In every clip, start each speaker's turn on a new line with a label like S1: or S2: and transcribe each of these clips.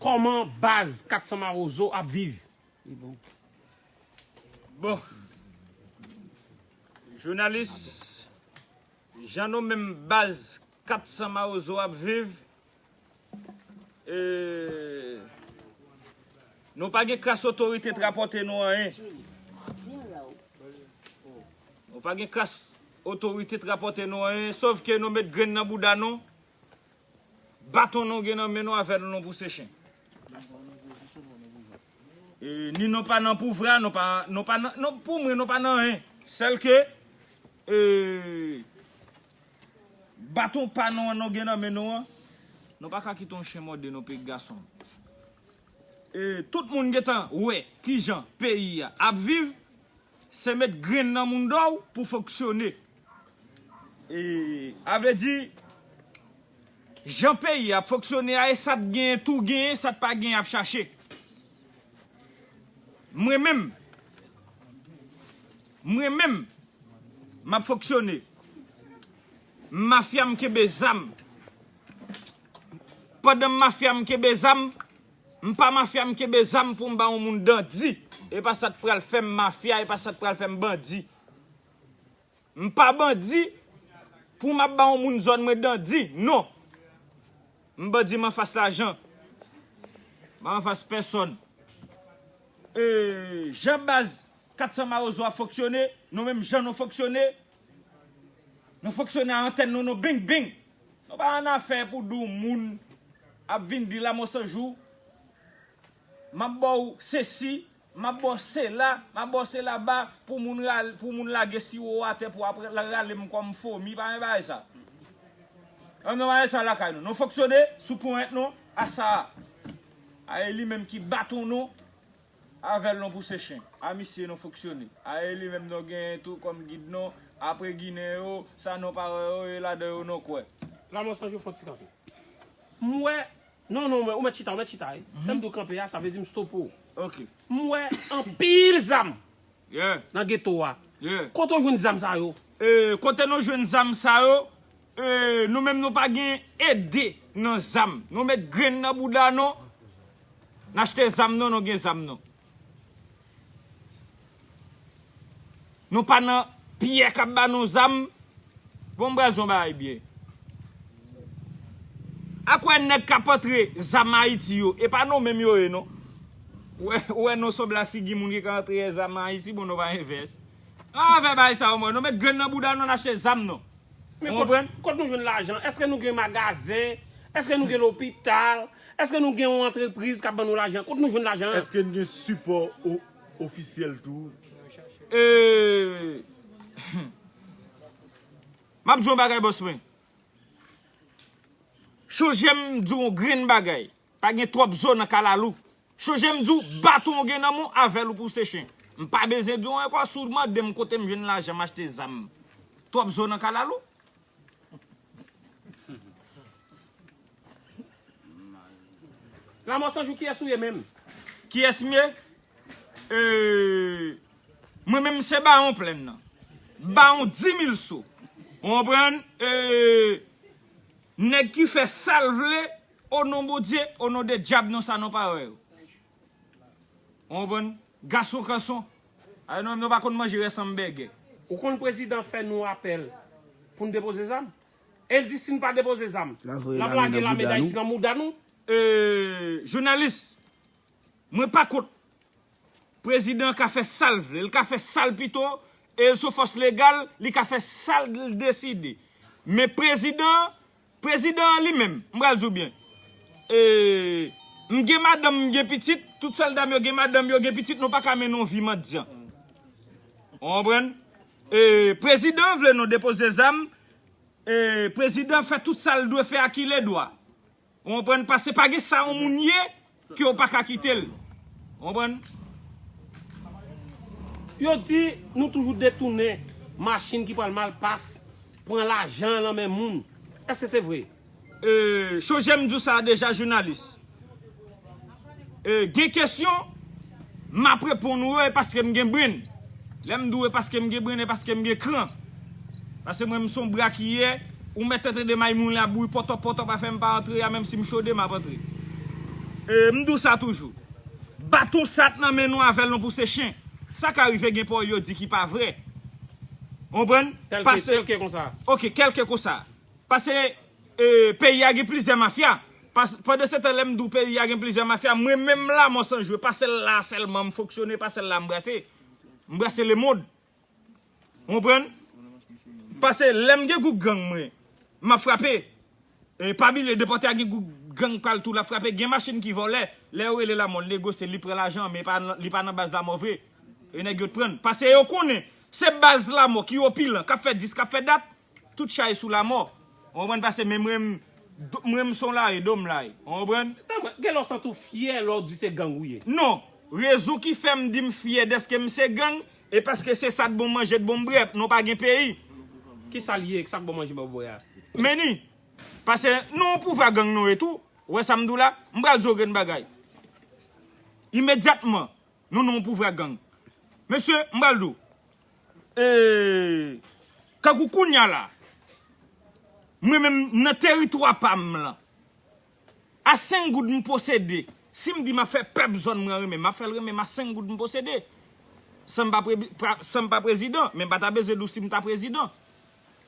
S1: Koman baz 400 marozo ap viv. Bon
S2: jounalis jan nou menm baz 400 marozo ap viv nou pa gen kras otorite t rapòte nou anyen nou pa gen kras otorite t rapòte nou anyen sovke nou met grenn nan bouda nou Baton nou gen nan men nou avè nou non pou sechen. Ni nou pa nan pouvra, nou pa nan, pou mwen nou pa nan yen. Sèl ke, baton pa nou an nou gen nan men nou an, nou pa ka kite yon chen mòde nou peyik gason. Tout moun gen tan wè ki jan peyi a ap viv, se met grenn nan moun dòw pou foksyone. A vle di, jan peyi ap foksyone a e sa t genyen tou genyen, sa t pa genyen ap chache. Mwen menm, mwen menm, m ap foksyone. Mafya m kenbe zam. Pandan m mafya m kenbe zam, m pa mafya m kenbe zam pou m ba yon moun dandi. E pa sa t pral fè m mafya, e pa sa t pral fè m bandi. M pa bandi pou m ap ba yon moun zòn mwen dandi, non! M bandi m anfas lajan, m pa anfas pèsòn. E jan baz 400 mawozo ap fonksyone, nou menm jan nou fonksyone, nou fonksyone a antèn nou, nou bing bing! Nou pa annafè pou di yon moun ap vin di Lamothe Sanjou, m ap ba w sesi, Map bo sela, map bo sela ba pou moun rale, pou moun lage siwo a te pou apre la rale m kom fomi pa gen bagay sa. An gen bagay sa lakay nou. Nou fonksyone sou ponyèt nou a sa a. A e li menm ki baton nou avèl nou pou se chen. A misye nou fonksyone. A e li menm nou genyen tou kom gid nou apre ginen yo sa nou pa wè yo e ladan yo nou kwè. Lamò sanjou fon ti
S1: kanpe. M wè Non non ou mèt chita ou mèt chita wi lèm diw kanpe a sa vle di m stope ou ok m wè anpil zam nan
S2: geto a
S1: kote ou jwenn
S2: zam sa
S1: yo kote nou jwenn
S2: zam sa yo nou menm nou pa gen ede nan zam nou met grenn nan bouda nou n achte zam nou nou gen zam nou. Nou pa nan pyè kap ba nou zam. Bon m pral di yon bagay byen. Ak wè nèg kap antre zam Ayiti yo e pa nou menm yo ye non. Ou wè nou sob la figi moun ki ka antre yè zam Ayiti bon nou pa envès. An afè bagay sa yo mwen. Nou met grenn nan bouda nou n achte zam nou. Ou konprann?
S1: Kot nou jwenn lajan? Eske nou gen magazen? Eske nou gen lopital? Eske nou gen yon antrepriz kap ban nou lajan? Kot nou jwenn lajan an? Eske n gen sipò
S3: ofisyèl tou? Eee.
S2: Map di w yon bagay bòs mwen. Chonje m di w yon grenn bagay. Pa gen twòp zo nan kalalou. Chonje m di w baton ou gen nan men w avè l ou pou w se chen. M pa bezwen di w ankò si w mande m kote m jwenn lajan m achte zam. Twòp zo nan kalalou.
S1: Lamò sanjou kiyès ou ye menm? Kiyès m ye?
S2: Eeeee Mwen menm se bawon plenn nan. Bawon dimil so. Ou konprann? Eeeee Nèg ki fè sa l vle o non Bondye, o non de dyab non sa non parèy ou. Ou konprann? Gason kanson. Ay non menm yo pa konn manje rès anbègè. Ou konn prezidan
S1: fè nou apèl pou n depoze zam? El di si n pa depoze zam, l ap lage lame Dayiti nan mouda nou? Eee
S2: jounalis, mwen pa kont. Prezidan an ka fè sa l vle. L ka fè sa l pito e l son fòs legal, li ka fè sa l deside. Men prezidan an. Prezidan an li menm, m pral di w byen. M gen madanm, m gen pitit, tout sòlda m yo gen madanm, yo gen pitit, nou pa ka mennen yon vi mandyan. Ou konprann? Prezidan an vle nou depoze zam, prezidan fè tout sa l dwe fè ak iledwa. Ou konprann? Pase pa gen sa yon moun ye, Ke w pa ka kite l. Ou konprann?
S1: Yo di nou toujou detounen machin ki pral malpas, pran lajan lan men moun. Eske se vre? Cho
S2: jem di w sa deja jounalis. Gen kesyon. M ap reponn ou e paske m gen brenn. Lè m di w e paske m gen brenn e paske m gen kran. Paske mwen m s on bra ki ye, ou mèt antre de may moun la bouyi pòtòp pòtòp afè m pa antre a menm si m chode m ap antre. E m di w sa toujou. Baton sa t nan men nou avè l nou pouse chen. Sa ka rive gen pawòl yo di ki pa vre. Ou konprann? Kèlke, kèlke konsa. Ok,
S1: kèlke konsa.
S2: Pase peyi a gen plizyè mafya. Pandansetan lè m di w peyi a gen plizyè mafya, mwen menm la mò san jwe, pa sèl la a sèlman m fonksyone, pa sèl la a m brase. M brase lemond. Ou konprann? Pase lè m gen gwoup gang mwen, m ap frape. E pa bliye depòte a gen gwoup gang pa l tou l ap frape. Gen machin ki vòlè, lè yo rele lamò l negosye l, li pran lajan an men li pa nan baz lamò vre. E nèg yo t pran l. Pase yo konnen se baz lamò ki opilan, k ap fè dis, k ap fè dat. Tout chay sou lamò ou konprann pase men mwen mwen m son lari do m lari ou konprann. Tanpri, gen lè w santi w
S1: fyè lè w di se gang ou ye? Non, rezon
S2: ki fè m di m fyè dèske m se gang e paske se sa t bon manje t bon bwè, non pa gen peyi. Ki sa l
S1: ye, sa k bon manje bon bwè a? Meni,
S2: pase nou yon pouvwa gang nou ye tou, ou wè sa m di w la, m pral di w grenn bagay. Imedyatman. Nou non pou vra gang. Mesye m pral di w eeh tankou kounya la mwen menm nan teritwa pam lan a 5 goud m posede sim di map fè pèp zòn mwen renmenm map fèl renmenm a 5 goud m posede sanm pa sanm pa prezidan men m pata bezwen di w sim ta prezidan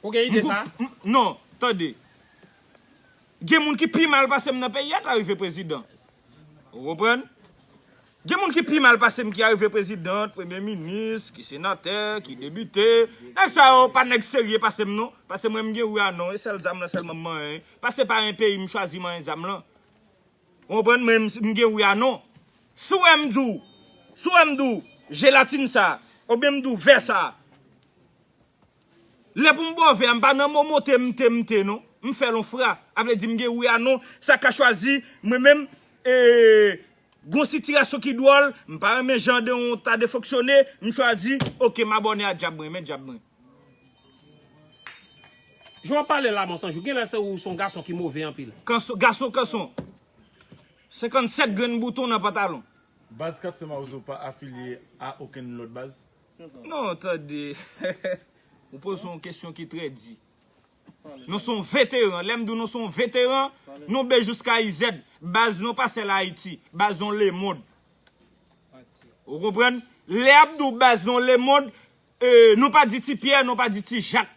S2: ou gen ide
S1: sa non tande.
S2: Gen moun ki pi mal pasem nan peyi a ta rive prezidan ou konprann gen moun ki pi mal pasem ki arive president premye minis ki senatè ki debite nèg sa yo pa nèg serye pasem non pase mwen mgen ou ya non e sèl zam lan sèlman m manyen pase pa yon peyi m chwazi manyen zam lan ou konprann mwen mgen ou ya non si w wèm di w si w wèm di w jelatin sa oubyen m di w vè sa Lè pou m bòve a m pa nan mo mote mnte mnte non m fè l on fra a vle di m gen wi a non sa ka chwazi mwen menm eeee gon sitirasyon ki dwòl m pa renmen jan de on ta de fonksyone m chwazi ok m abòne a djab m renmen djab mwen.
S1: Jan wap pale la monsanjou genlè se ou son gason ki move anpil. Kanson gason kanson 57
S2: grenn bouton nan pantalon. Baz 400
S3: mawozo pa afilye a okenn lòt baz? Non tande
S2: ou poze yon kesyon ki trè di. Nou son veteran, lèm di w nou son veteran, nou be jouska izèd. Baz nou pa sèl Ayiti, baz nou lemond. Ou konprann? Lè ap di w baz nou lemond, nou pa di ti Pyè, nou pa di ti Jak.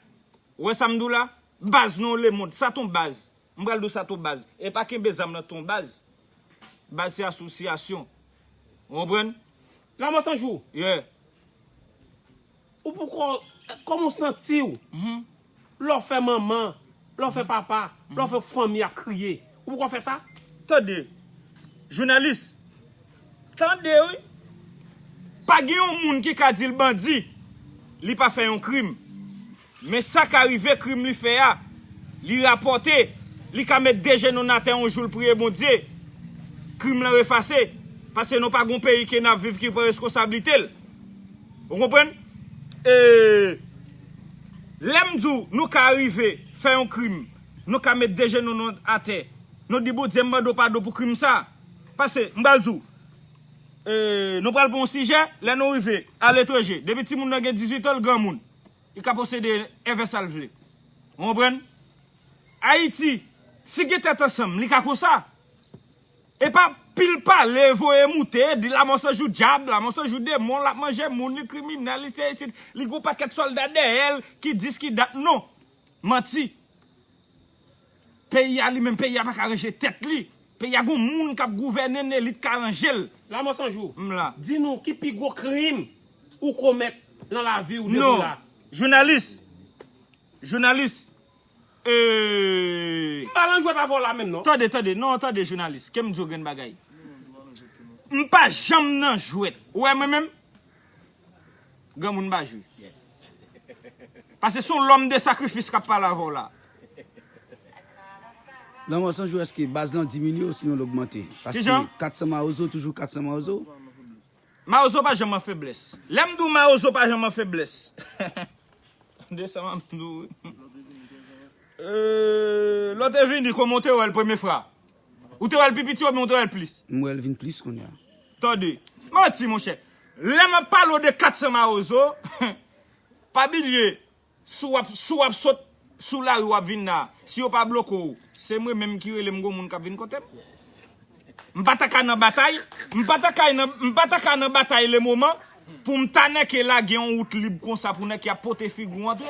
S2: Ou wè sa m di w la? Baz nou lemond. Sa ton baz? M pral di w sa tou baz, e pa kenbe zam lan tou baz. Baz se asosyasyon. Ou konprann? Lanmò san jou? Yeah.
S1: Ou poko, kòman ou santi w lè w fè manman, lè w fè papa, lè w fè fanmi ap kriye? Ou poko fè sa? Tande,
S2: jounalis. Tande wi. Pa gen yon moun ki ka di l bandi, li pa fè yon krim. Men sa ka rive krim li fè a, li rapòte, li ka met de jenou n atè yon jou l priye Bondye, krim lan efase, pase nou pa gon peyi ke nap viv ki pran reskonsablite l. Ou konprann? E lè m di w nou ka rive fè yon krim, nou ka met de jenou nou atè, nou di Bondye m mande w padon pou krim sa, pase m pral di w, e nou pral pran yon sijè, lè nou rive aletranje, depi timoun nan gen 18 an l granmoun. Li ka posede èvè sal vle. Ou konprann? Ayiti, si gen tèt ansanm, li ka konsa. E pa pil pale, voye moute, di lamò se jou dyab, lamò se jou demon, lap manje moun, li kriminèl, li se isit, li gon pakèt sòlda dèyèl ki dis ki dat non. Manti. Peyi a li menm peyi a paka ranje tèt li peyi a gon moun kap gouvènenl elit ka ranjel La mò san jou, m
S1: la. Di nou ki pi
S2: gwo
S1: krim ou komèt nan lavi ou depi w la. Non jounalis
S2: jounalis
S1: ee. M pa lan jwèt avè w la menm non. Tande tande non tande jounalis
S2: ke m di w grenn bagay. M pa janm nan jwèt ou wè mwen menm. Granmoun ba jwe.
S4: Pase
S2: son lòm de sakrifis kap pale avèw la.
S5: Lanmò san jou eske baz lan diminye osinon l ogmante? Paske 400 mawozo
S2: toujou
S5: 400 mawozo? Mawozo
S2: pa janm an feblès. Lè m di w mawozo pa janm an feblès. De sa map di w. Lò te vini koman w te wè l premye fra? Ou te wèl pi piti oubyen ou te wèl plis? M wèl vin plis kounya.
S5: Tande.
S2: Manti monchè. Lè map pale w de 400 mawozo, pa bilye si wap si wap sot sou lari wap vin la, si yo pa bloke w, se mwen menm ki rele m gon moun kap vin kote m. M pa ta ka nan batay, m pa ta ka nan m pa ta ka nan batay le moman pou m ta nèke lage yon wout lib konsa pou nèke ap pote figi w antre.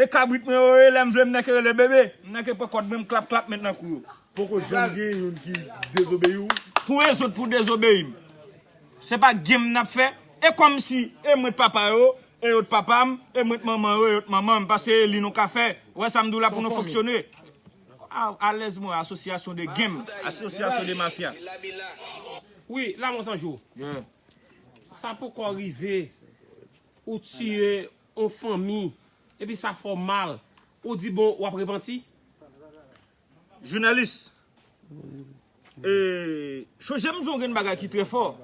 S2: E kabrit mwen yo ye lèm vle m nèke rele bebe m nèke pran kòd mwen m klap klap met nan kou yo. Poko janm gen
S3: youn ki dezobeyi
S2: w? Pou rezoud pou
S3: dezobeyi
S2: m. Se pa game nap
S3: fè?
S2: E kòmsi e mwen t papa yo e yo t papa m e mwen t manman yo e yo t manman m pase e li nou ka fè wè sa m di w la pou nou fonksyone alèz mwen asosyasyon de game asosyasyon de mafya.
S1: Wi la mò san jou.
S2: Sa
S1: poko rive ou tiye. On fanmi. Epi sa fè w mal. Ou di bon wap repanti? Jounalis,
S2: E chonje m di w gen bagay ki trè fò.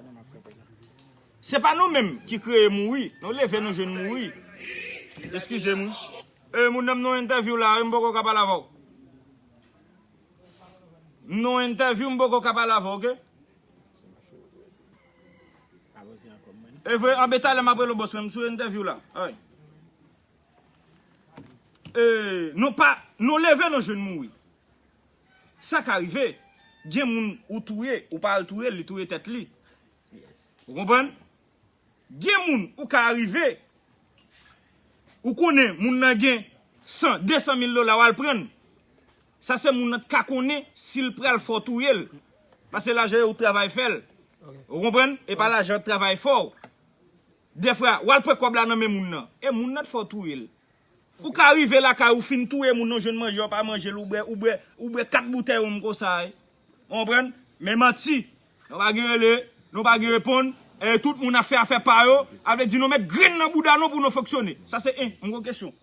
S2: Se pa nou menm ki kreye mouri. Nou leve nou jwenn mouri. Eskize m wi. E moun nan m nan yon entèvyou la wi m poko ka pale avè w. M nan yon entèvyou m poko ka pale avè w ok. Evre anbe talè map rele w bos mwen m sou entèvyou la ay ee nou pa nou leve nou jwenn mouri sa ka rive gen moun ou touye ou pa al touye l li touye tèt li ou konprann gen moun ou ka rive ou konnen moun nan gen san desan mil dola w al prann. Sa se moun nan t ka konnen sil pral fè w touye l pase lajan yo ou t travay fè l ou konprann epa lajan an t travay fè w dèfwa wal pran kòb la nan men moun nan e moun nan t fè w touye l ou ka rive lakay ou fin touye moun nan ou jwenn manje ou pa manje l ou bwè ou bwè ou bwè 4 boutèy ronm konsa ou konprann men manti nou pa gen rele nou pa gen reponn e tout moun ap fè afè pa yo a vle di nou met grenn nan bouda nou pou nou fonksyone sa se 1 m gen yon kesyon.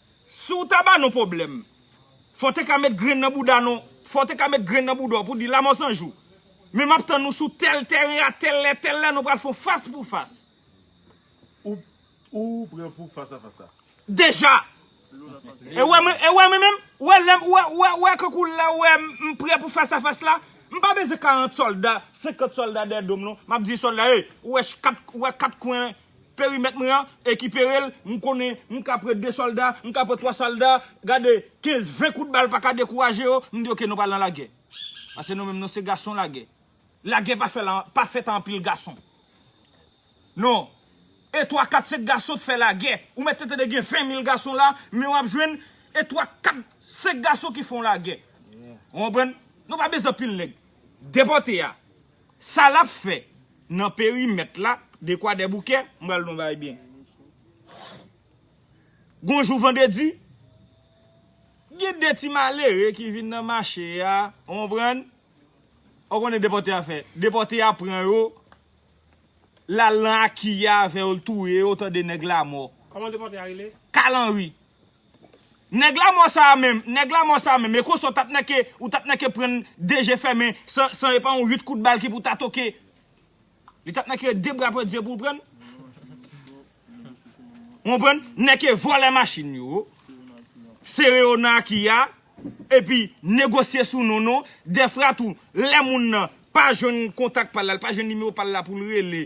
S2: Si w ta ba nou pwoblèm, fò w te ka met grenn nan bouda nou, fò w te ka met grenn nan bouda w pou w di Lamò 100 jou. Men m ap tann nou sou tèl tèren a tèl lè, tèl lè nou pral fè yon fas pou fas. Ou, ou
S3: prè pou fas a fas a? Deja!
S2: E wè mwen, e wè mwen menm? Ou wè lè m, ou wè, ou wè, ou wè kankou lè ou wè m, m prè pou fas a fas la? M pa bezwen 40 sòlda, 50 sòlda dèyè do m non. M ap di sòlda, ey, ou wè ch, kat, ou wè kat kwen Perimèt mwen an ekipere l, m konnen m ka pre 2 sòlda, m ka pre 3 sòlda, gade 15, 20 kout bal pa ka dekouraje yo, m di ok nou pral nan lagè. Pase nou menm nou se gason lagè. Lagè pa fè lan, pa fèt an anpil gason. Non. E 3, 4, 5 gason k fè lagè. Ou mèt tentede gen 20 mil gason la, men w ap jwenn e 3, 4, 5 gason ki fè yon lagè. Ou konprann? Nou pa bezwen anpil nèg. Depòte a. Sa lap fè nan perimèt la de kwadèboukè m pral di w yon bagay byen gon jou vandredi gen de ti malere ki vin nan mache a ou konprann ou konnen depòte a fè depòte a pran yo l al nan aki a avè yo l touye yo tande nèg lamò
S1: kalanri
S2: Nèg lamò sa a menm, nèg lamò sa a menm, e konsa ou tap nèke, ou tap nèke pran n de je fèmen san, san e pa yon 8 kout bal ki pou ta toke. Li tap nèke de bra pran diye pou l pran n. Ou konpran n? Nèke vòlè machin yo, sere yo nan aki a, epi negosye sou non nou, dèfra tou, lè moun nan pa jwenn kontak pa l la, l pa jwenn nimewo pa l la pou l rele.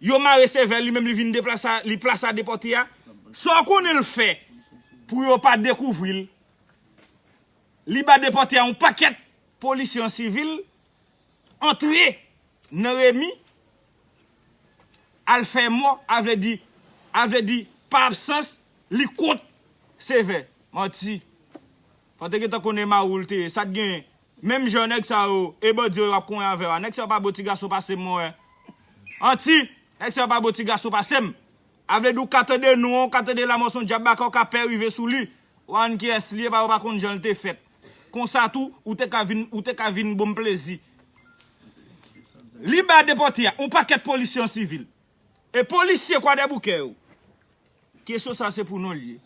S2: Yo mare sèvèl li menm li vin deplasa li plasa depòte a Saw konnen l fè pou yo pa dekouvri l Li ba depòte a yon pakèt polisye an sivil Antre nan remi Al fè mò a vle di a vle di pa absans li kont sevè Manti Paw te gentan konnen mawoul te ye sa t genyen Menm jan nèg sa yo e bandi yo ap konyen avèw a nèg sa yo pa bo ti gason pasem mwen wè anti nèg sa yo pa bo ti gason pasem a vle di ou ka tande non an ou ka tande lamò son dyab baka ou ka pè rive sou li wa ann kiyès li ye paske ou pa konn janl te fèt konsa tou ou te ka vin ou te ka vin bonm plezi li ba depòte a on pakèt polisye an sivil e polisye kwadèboukè yo kesyon sa se pou nou li ye.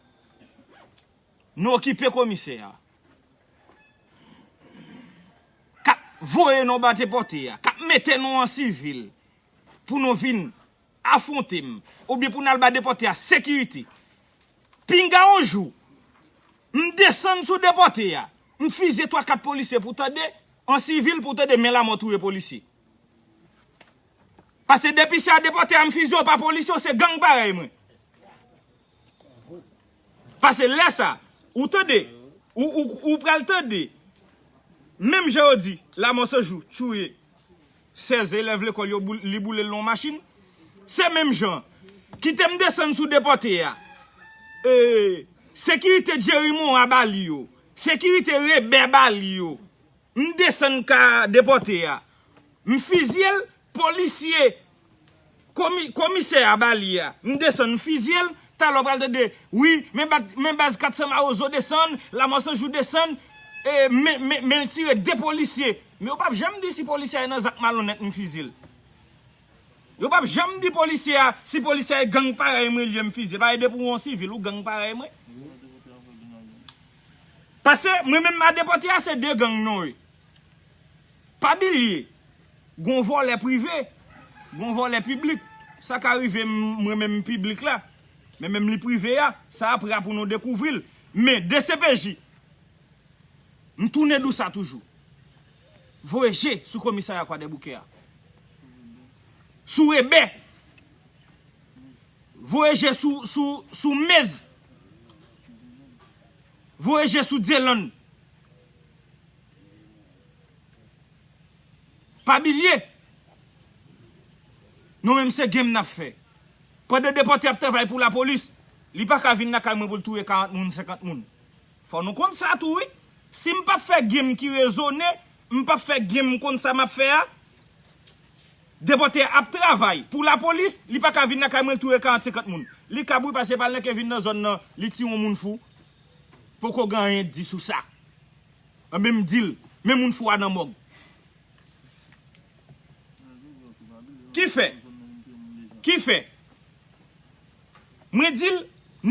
S2: Nou okipe komisè a. Kap voye nou bate pote a. Kap mete nou an sivil. Pou nou vin afwonte m. Oubyen pou nou al bade pote a sekirite. Pinga yon jou. M desann sou de pote a. M fizye 3 4 polisye pou tande. An sivil pou tande men lamò touye polisye. Pase depi se a de pote a m fizye yo pa polisye yo se gang parèy mwen. Pase lè sa, ou tande, ou pral tande, menm jan yo di, Lamosanjou touye 16 elèv lekòl yo, li boule l nan yon machin, se menm jan, kite m desann sou depòte a, sekirite Jerry Morin ba li yo, sekirite Rebè ba li yo, M desann ka depòte a m fizye l polisye komisè a ba li a m desann m fizye l talè w pral tande wi men baz 400 mawozo desann lamò sanjou desann men l tire 2 polisye men yo pap janm di si polisye a nan zak malonnèt m fizye l yo pap janm di polisye a si polisye a e gang parèy mwen l ye m fizye l pa e depi w on sivil ou gang parèy mwen. Pase mwen menm adepòte a se 2 gang non e. Pa bilye, gon vòlè prive, gon vòlè piblik. Sa ka rive mwen menm m piblik la, men menm li prive a, sa apre a pou nou dekouvri l. Men dcpj, m tounen dou sa toujou, voye je sou komisarya kwadèboukè a. Sou rebè, voye je sou mez Voye je sou Dielanne. Pa bilye. Nou menm se game nap fè. Pandan depòte ap travay pou lapolis. Li paka vin lakay mwen poul touye 40 moun 50 moun. Fò nou konn sa tou wi. Sim pap fè game ki rezone. M pap fè game m konn sa map fè a. Depòte a ap travay pou lapolis li paka vin lakay mwen touye 40 50 moun li kab wi pase pal nan ke vin nan zòn nan li ti yon moun fou poko gen anyen di sou sa anben m dil men moun fou a nan mòg ki fè ki fè mwen dil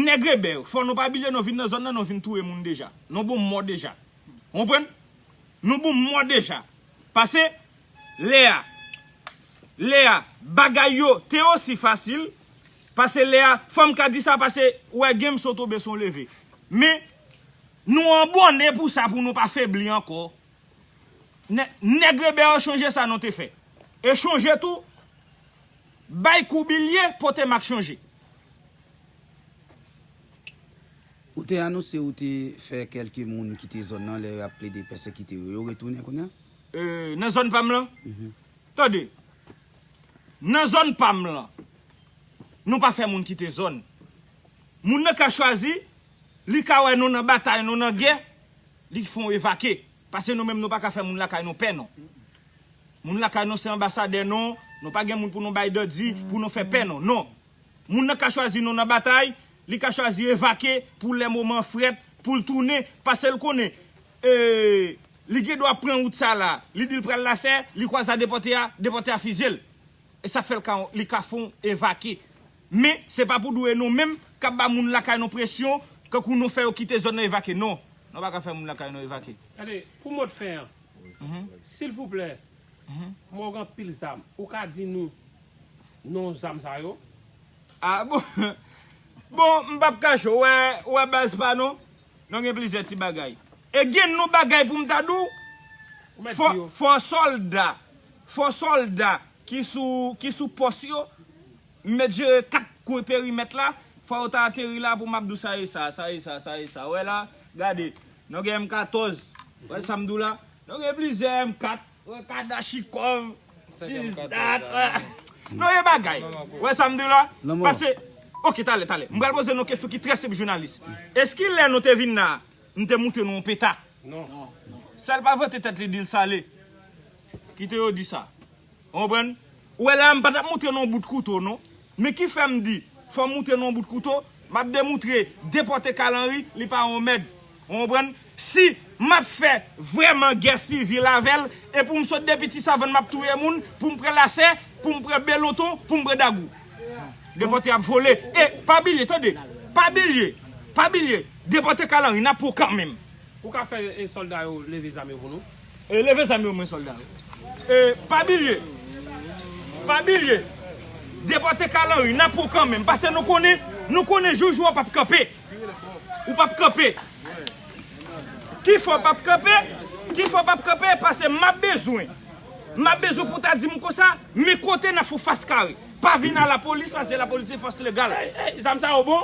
S2: nèg rebè yo fò nou pa bilye nou vin nan zòn nan nou vin touye moun deja nou bon mò deja nou bon mò deja pase. Lea. Lea, bagay yo te osi fasil, pase Lea, fò m ka di sa pase ou wè gen m so tonbe son leve. Men, nou an bòne pou sa pou nou pa febli ankò. Nè, nèg rebè yo chonje sa nou te fè. E chonje tou, bay kou bilye pote mak chonje.
S5: Ou te anonse ou te fè kèlke moun kite zòn nan lè yo ap plede pèsekite yo. Yo retounen kounye a? Nan zòn
S2: pa m lan? Tande, nan zòn pa m lan, nou pa fè moun kite zòn. Moun nan ka chwazi, li ka wè nou nan batay, nou nan gè, li fè yon evake. Pase nou menm nou pa ka fè moun lakay nou pè non. Moun lakay nou se anbasadè non, nou pa gen moun pou nou bay dòdi, pou nou fè pè non. Non. Moun nan ka chwazi nou nan batay, li ka chwazi evake pou lè moman an frèt, pou l tounen, pase l konnen. Ee li gen dwa pran wout sa la li dil pral la sè li kwaza depòte a depòte a fizil esa fèl ka li ka fon evake men se pa pou dwe nou menm kap ba moun lakay nou presyon kankou nou fè yo kite zòn nan evake non nou pa ka fè moun lakay nou evake. Tande pou mot fen
S1: an silvouplè mòg anpil zam ou ka di nou non zam sa yo. Ah bon
S2: bon mpap kache w wè baz pa nou Non gen plizyè ti bagay. E gen non bagay pou m ta di w. Fò sòlda, fò sòlda ki sou, ki sou pòs yo, m mèt jere 4 kwen perimèt la, fò yo ta ateri la pou m ap di w sa e sa, sa e sa, sa e sa. Ou wè la, gade. Non gen M14, ou wè sa m di w la. Non gen plizyè M4. Yon kadachikòv is dat Non yon bagay Ou wè sa m di w la Pase Ok talè talè M pral poze nou yon kesyon ki trè senp jounalis Eski lè nou te vin la a M te montre nou yon peta
S1: Sèl pa
S2: vante tèt li di l sale Kite yo di sa Ou konprann Ou wè la a m pa t ap moutre nou yon bout kouto non. Men ki fè m di fò m moutre nou yon bout kouto, m ap demoutre depòte Carl Henry li pa yon mèd. Ou konprann? Si m ap fè vrèman gè sivil avè l e pou m sot depi ti savann m ap touye moun, pou m pran lasè, pou m pran beloton, pou m pran dagou. Depòte ap vole. E pa bilye tande, pa bilye, pa
S1: bilye depòte
S2: Carl
S1: Henry n ap pran
S2: w
S1: kanmenm.
S2: Ou ka
S1: fè
S2: sòlda
S1: yo
S2: leve
S1: zam yo
S2: pou nou?
S1: E
S2: leve zam yo mwen solda yo. E pa bilye pa bilye depote kal anri nap pran kan menm pase nou konnen nou konnen jou jou a pap kanpe ou pap kanpe ki fè w pap kanpe ki fè w pap kanpe pase map bezwen map bezwen pou ta dim konsa men kote nap fou fas kare pa vin a la polis pase la polis se fos legal. Zam sa yo bon?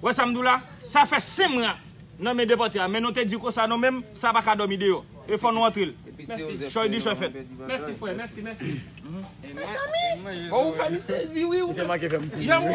S2: Wè sam diw la, sa fè 5 mwa nan men depòte a men nou te diw konsa non menm sa pa ka dòmi deyò e fò nou antrel chòy di chòy
S1: fèt.
S2: Mèsi frè mèsi
S1: mèsi. Mezanmi!
S4: Bon ou fè
S1: li sezi
S4: wi ou menm. Misye
S1: manke fèm
S4: kriye wi.